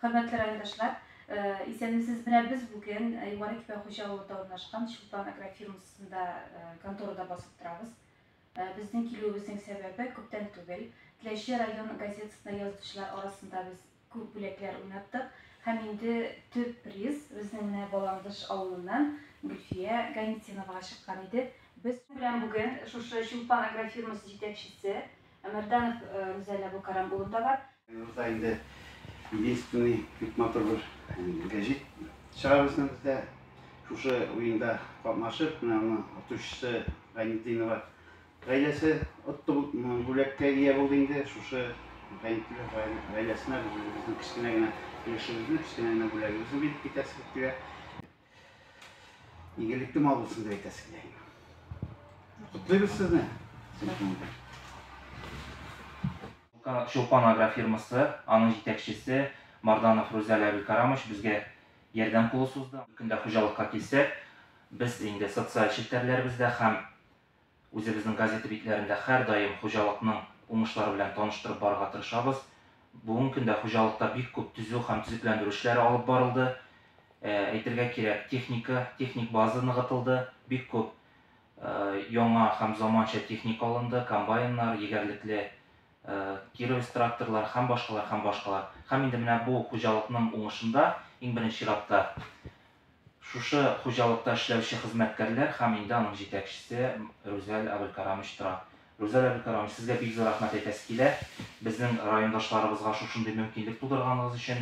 Хөрмәтле райондашлар, исәнмесез! Менә без бүген Югары Кипә Хуҗа авылында урнашкан Чулпан агрофирмасында, конторада басып торабыз. Безнең килүебезнең сәбәбе, күптән түгел Теләче район газетасына язучылар арасында без күп бүләкләр уйнаттык һәм инде төп приз безнең менә Баландыш авылыннан Гөлфия Ганитдиновага чыккан иде. Без белән бүген шушы Чулпан агрофирмасы җитәкчесе Әмәрданов Рүзәлә бу Карам улында бар. Руза инде единственный бик матур бер гәҗит чыгарырсың бездә. Шушы уенда катнашып, менә аны отучысы Гайнетдинова гаиләсе отты бүләккә ия булды инде. Шушы Гайнетдинов гаиләсенә безнең кечкенә генә өлешебезне, кечкенә генә бүләгебезне биреп китәсе килә. Игелекле мал булсын дип әйтәсе килә. Котлыйбыз сезне. Чулпан агрофирмасы, аның җитәкчесе Марданов Рузәлә Абелкарамович безгә ярдәм кулы сузды. Көндә хуҗалыкка килсәк, без инде социаль челтәрләребездә һәм Үзебезнең газета битләрендә һәрдаим хуҗалыкның уңышлары белән таныштырып барырга тырышабыз. Бүгенге көндә хуҗалыкта бик күп төзү һәм төзекләндерү эшләре алып барылды. Әйтергә кирәк, техника, техник база ныгытылды, бик күп яңа һәм заманча техника алынды, комбайннар, егәрлекле Кировец тракторлары һәм башкалар, һәм башкалар. Һәм инде менә бу хуҗалыкның уңышында, иң беренче чиратта, Шушы хуҗалыкта эшләүче хезмәткәрләр һәм инде аның җитәкчесе Рүзәл Әбелкарамич тора. Рүзәл Әбелкарамич, сезгә бик зур рәхмәт әйтәсе килә, безнең райондашларыбызга шушындый мөмкинлек тудырганыгыз өчен.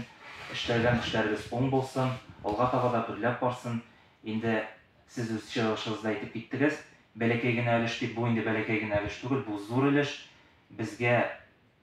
Эшләгән эшләрегез уң булсын, алга таба да гөрләп барсын. Инде сез үз чыгышыгызда әйтеп киттегез, бәләкәй генә өлеш дип, бу инде бәләкәй генә өлеш түгел, бу зур өлеш. Безгә.